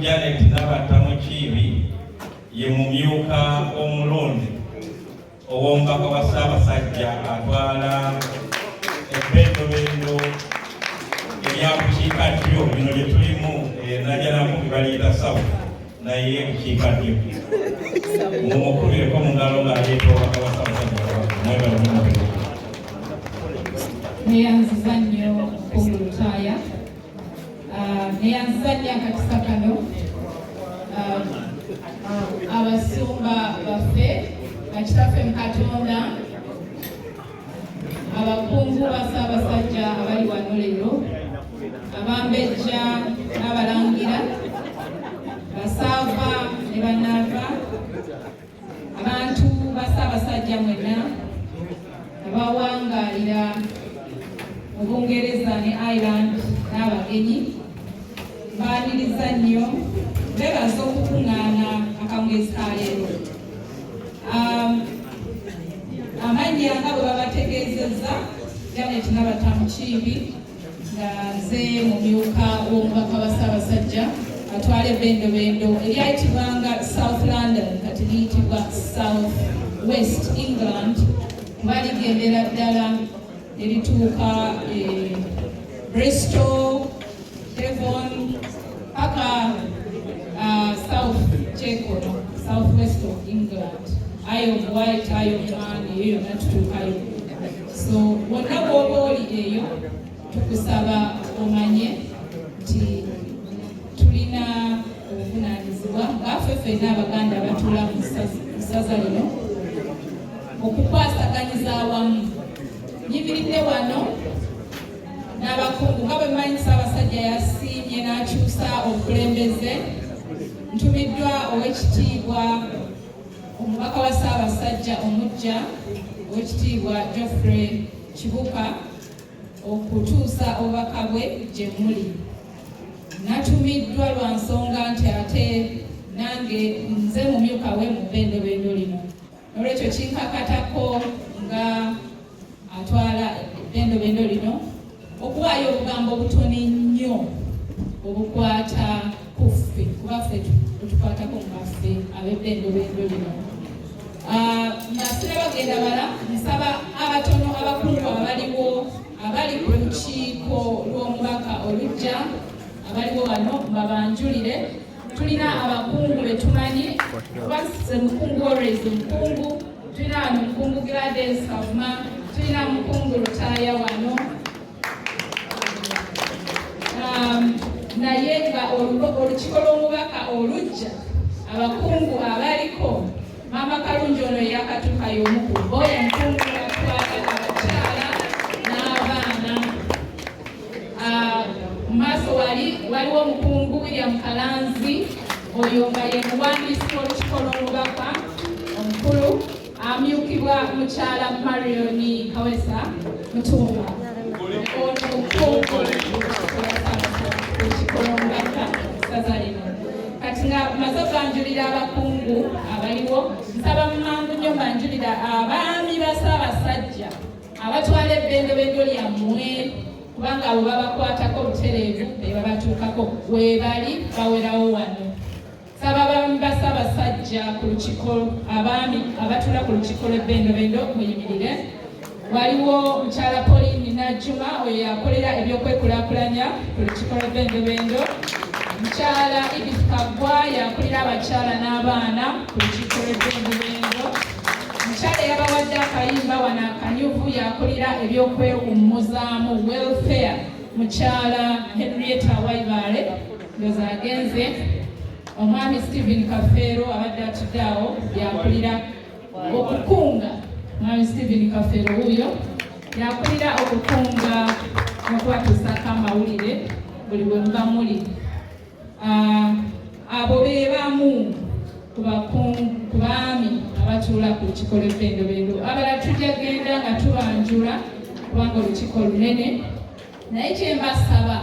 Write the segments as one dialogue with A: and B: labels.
A: Janet Nabatta Mukiibi ye mumyuka omulonde ow'omubaka wa Ssaabasajja atwala ebbendobendo erya bukiika ddyo bino lye tulimu eh, najanamu baliita sawu naye bukiika ddyo mumukubireko mu ngalo ng'aleeta obubaka bwa Ssaabasajja mwebalumumu neyanziza nnyo
B: ku lutaaya ah, neyanziza nnyo akakisa kano ah, abasumba baffe bakitaffe mu katonda abakungu ba ssaabasajja abali wano leero abambejja n'abalangira basaava ne banaava abantu ba Ssaabasajja mwenna abawangaalira mu Bungereza ne Ireland n'abagenyi baaniriza nnyo beebaza okukuŋŋaana akamwezi ka leero um, amannya nga bwe babategeezezza Janet Nabatta Mukiibi nga nze mumyuka w'omubaka wa Ssaabasajja atwala ebendobendo eryayitibwanga South London kati liyitibwa South West England kuba ligendera ddala erituuka e Bristol, Devon paka South Chekono, South West of England ayo omuwaayita ayo omwana eyo yonna tutuukayo so wonna bwoba oli eyo tukusaba omanye nti tulina obuvunanyizibwa ngaafe fenna abaganda abatula mu ssaza lino okukwasaganyiza awamu nyimiridde wano n'abakungu nga bwe manyi ssaabasajja yasiimye n'akyusa obukulembeze ntumiddwa ow'ekitiibwa omubaka wa ssaabasajja omujja owekitiibwa geoffrey kibuka okutuusa obubaka bwe gye muli natumiddwa lwa nsonga nti ate nange nze mumyuka we mu bendobendo lino nolwekyo kinkakatako nga atwala eddendobendo lino okuwaayo obugambo obutono ennyo obukwata ku ffe kuba ffe tukwatako mubaffe abeddendobendo lino ah, nga sirabagenda bala nsaba abatono abakulu abaliwo abali ku lukiiko lw'omubaka olujja abaliwo wano mbabanjulire tulina abakungu betumanyi kuba ze mukungu always mukungu tulina wano mukungu Gladys Kavuma tulina mukungu Lutaaya wano um, naye nga olukiko lw'omubaka olujja abakungu abaliko maama kalungi ono eyakatuuka y'omu ku bo omukungu Ah, mu maaso wali waliwo omukungu William Kalanzi oyo nga ye muwandiisi w'olukiiko lw'omubaka omukulu amyukibwa mukyala Marion Kawesa Mutumba ono mukungu olukiiko lw'omubaka saza lino kati nga maze oganjulira abakungu abaliwo nsaba mumangu nnyo mbanjulira abaami ba Ssaabasajja abatwala ebbendobendo lyammwe kubanga abo babakwatako obutereevu be babatuukako weebali bawerawo wano saba bamba sabasajja ku lukiko abaami abatula ku lukiko lw'ebbendobendo muyimirire waliwo mukyala polini najuma oyo yakolera ebyokwekulaakulanya ku lukiko lw'ebbendobendo mukyala ibis kagwa yakulira abakyala n'abaana ku lukiko lw'ebbendobendo Mukyala yabawadde akayimba wano akanyuvu yakulira ebyokwewummuzaamu welfare mukyala Henrietta Waibaale ndoza agenze omwami Stephen Kafeero abadde atudde awo yakulira okukunga mwami Stephen Kafeero wuuyo yakulira okukunga n'okubatusako amawulire buli bwe muba muli Ah, abo be bamu ku baami abatuula ku lukiiko lw'ebbendobendo abala tujja genda nga tubanjula kubanga olukiiko lunene naye kyembasaba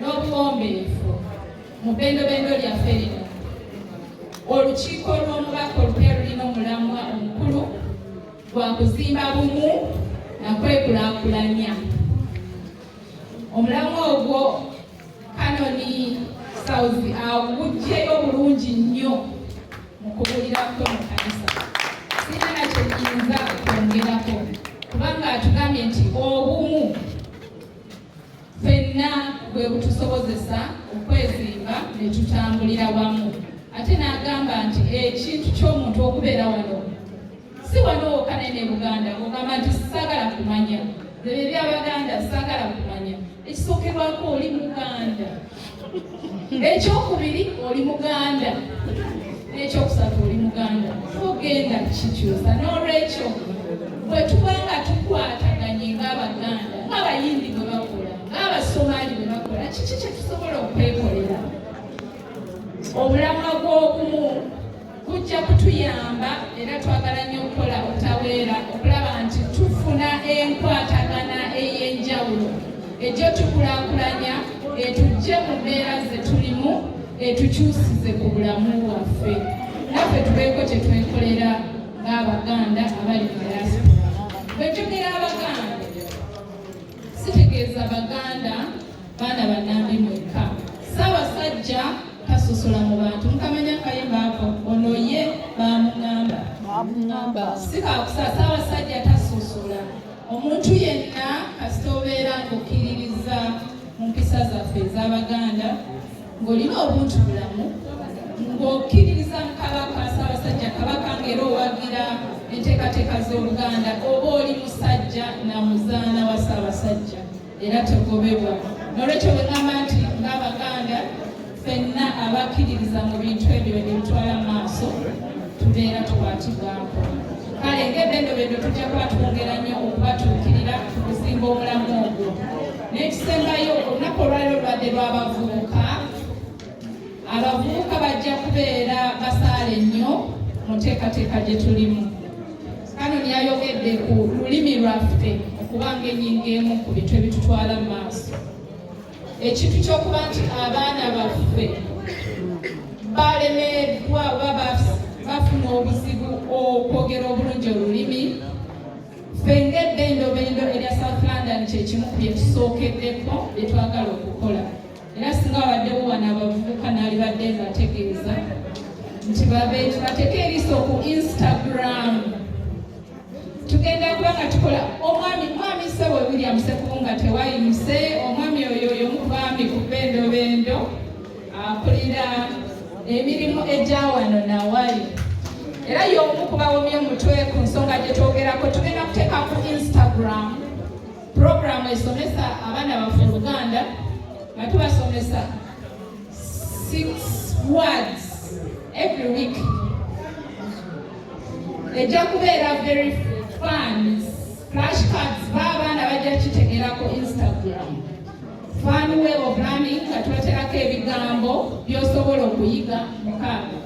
B: n'obuwombeefu mu bbendobendo lyaffe lino olukiiko lw'omubaka olupya lulina omulamwa omukulu gwa kuzimba bumu na kwekulakulanya omulamwa ogwo Kanoni Sauzi awujjeyo bulungi nnyo mu kubulira kwe mu kanisa. Sirina na kye nyinza kwongerako kubanga atugambye nti obumu fenna bwe butusobozesa okwezimba ne tutambulira wamu ate n'agamba nti ekintu ky'omuntu okubeera wano si wano wokka naye ne buganda ogamba nti sagala kumanya ebyo ebyabaganda sagala kumanya ekisookerwako oli muganda ekyokubiri oli muganda n'ekyokusatu oli muganda togenda kikyusa n'olwekyo bwe tuba nga tukwataganye ng'abaganda ng'abayindi bwe bakola ng'abasomaali bwe bakola kiki kye tusobola okwekolera obulamwa bw'obumu kujja kutuyamba era twagala nnyo okukola obutaweera okulaba nti tufuna enkwatagana ey'enjawulo ejjo tukulakulanya etujje mu mbeera ze tulimu etukyusize ku bulamu bwaffe naffe tubeeko kye twekolera ng'abaganda abali mu diaspora bwe tugera abaganda sitegeeza baganda baana banambi mwekka ssaabasajja tasosola mu bantu mukamanya kayimba ako ono ye bamugamba sikakusa ssaabasajja tasosola omuntu yenna kasita obeera ng'okkiririza mu mpisa zaffe ez'abaganda ng'olina obuntu bulamu ng'okkiririza mu kabaka ssaabasajja kabaka ng'era owagira enteekateeka z'obuganda oba oli musajja na muzaana wa ssaabasajja era tegobebwa nolwekyo bwegamba nti ng'abaganda fenna abakkiririza mu bintu ebyo byebitwala mu maaso tubeera tukwatibwako kale ng'ebendobendo tujja kuba twongera nnyo okubatuukirira ku kuzimba omulamu ogwo n'ekisembayo olunaku olwaliro lubadde lw'abavubuka abavubuka bajja kubeera basaale nnyo mu nteekateeka gye tulimu kano niyayogedde ku lulimi lwaffe okuba ng'enyinga emu ku bintu ebitutwala mu maaso ekintu ky'okuba nti abaana baffe balemeddwa oba bafuna obuzibu okwogera obulungi olulimi ffe ng'ebbendobendo erya south london kyekimu ku byetusookeddeko bye twagala okukola era singa wabaddewo wano abavubuka naalibadde ngategeeza nti bateeka eriiso ku instagram tugenda kuba nga tukola omwami mwami sebo william sekubunga tewayimuse omwami oyo yomubaami ku bendobendo akulira emirimu egya wano nawali era y'omu ku bawomye omutwe ku nsonga gye twogerako tugenda kuteeka ku instagram puroguramu esomesa abaana baffe oluganda nga tubasomesa six words every week ejja kubeera very fans flash cards ba abaana bajja kitegeera ku instagram Fund way of learning nga tweterako ebigambo by'osobola okuyiga mukaaga.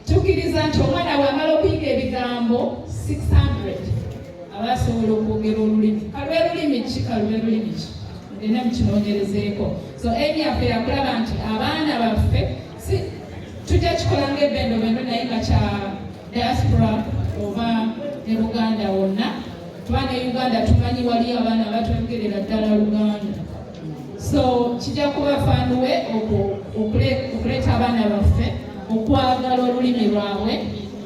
B: Tukiriza nti omwana wamala okuyiga ebigambo 600 aba asobola okwogera olulimi. Kalwe lulimi ki kalwe lulimi ki ngenda mukinoonyerezeeko. So emi yaffe yakulaba nti abaana baffe si tujja kikola ng'ebendobendo naye nga kya diaspora oba ne Buganda wonna. Bana Uganda tumanyi wali abaana abatoyogerera ddala Luganda, so kijja kuba fanuwe okuleeta abaana baffe okwagala olulimi lwabwe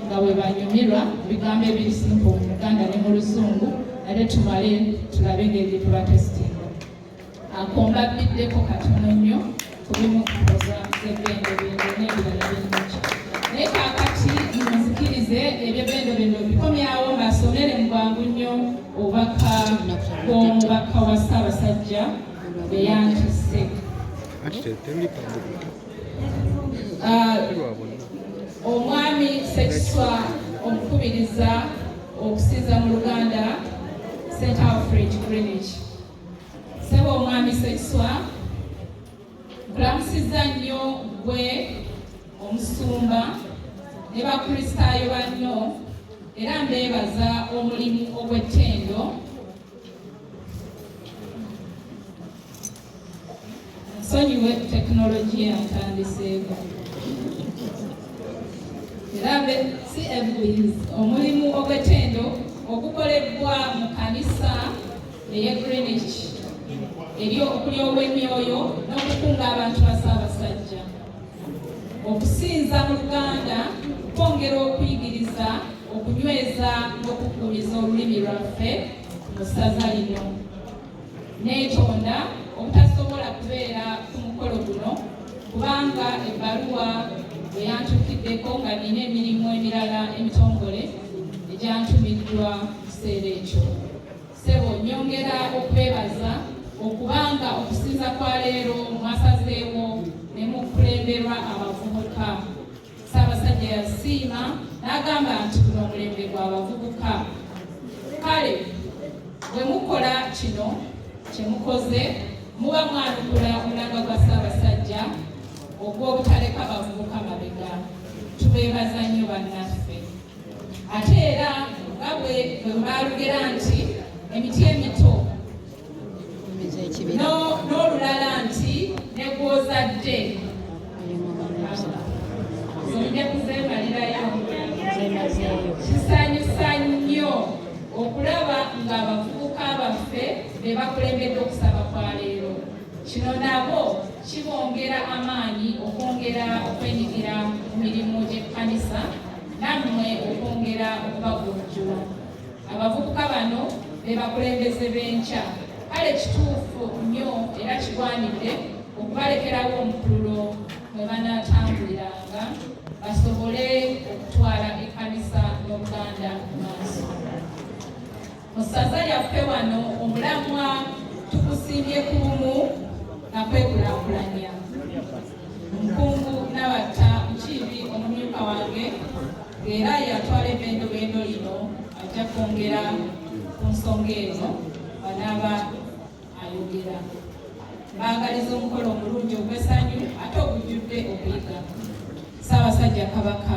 B: nga bwe banyumirwa bigambo ebisimpu mu Luganda ne mu Luzungu, ate tumale tulabe engeri gye tubatesiti Ako mbabbiddeko katono nnyo ku bimu ku pulogulaamu z'ebbendobendo n'ebirala bingi. Naye kaakati munzikirize eby'ebbendobendo bikomyawo mbasomere mu bwangu nnyo obubaka bw'omubaka wa Ssaabasajja bwe yantisse. Ah, omwami Ssekiswa omukubiriza okusinza mu Luganda St Alfred Greenwich Sebo omwami Sekiswa nkulamusiza nnyo gwe omusumba ne bakristaayo banno era mbeebaza omulimu ogw'ettendo Nsonyiwe tekinologiya ntandiseeko era be si ebuyiz omulimu ogw'ettendo ogukolebbwa mu kanisa eye Greenwich eri okuli ow'emyoyo n'okukunga abantu ba Ssaabasajja okusinza mu Luganda kwongera okuyigiriza okunyweza n'okukuumiza olulimi lwaffe mu ssaza lino. neetonda obutasobola kubeera ku mukolo guno kubanga ebbaluwa eyantuukiddeko nga nina emirimu emirala emitongole egyantumiddwa kiseera ekyo sebo nyongera okwebaza okubanga okusinza kwa leero mwasazeewo ne mukulemberwa abavubuka Ssaabasajja yasiima n'agamba nti guno omulembe gwa bavubuka kale bwe mukola kino kye mukoze muba mwanukula omulanga gwa Ssaabasajja ogw'obutaleka bavubuka mabega tubeebaza nnyo bannaffe ate era nga bwe baalugera nti emiti emito n'olulala nti ne gw'ozadde zonja kuzeemalirayo kisanyusa nnyo okulaba ng'abavubuka baffe be bakulembedde okusaba kwa leero kino nabo kibongera amaanyi okwongera okwenyigira mu mirimu gy'ekkanisa nammwe okwongera okubagunjula abavubuka bano be bakulembeze b'enkya kale kituufu nnyo era kigwanidde okubalekerawo omukululo mwe banaatambuliranga basobole okutwala ekkanisa n'obuganda mu maaso mu ssaza lyaffe wano omulamwa tukusimbye ku bumu na kwekulakulanya era yatwala ebendobendo lino ajja kwongera ku nsonga eno banaaba ayogera baagaliza omukolo omulungi ogwesanyu ate ogujjudde okuyiga ssaabasajja kabaka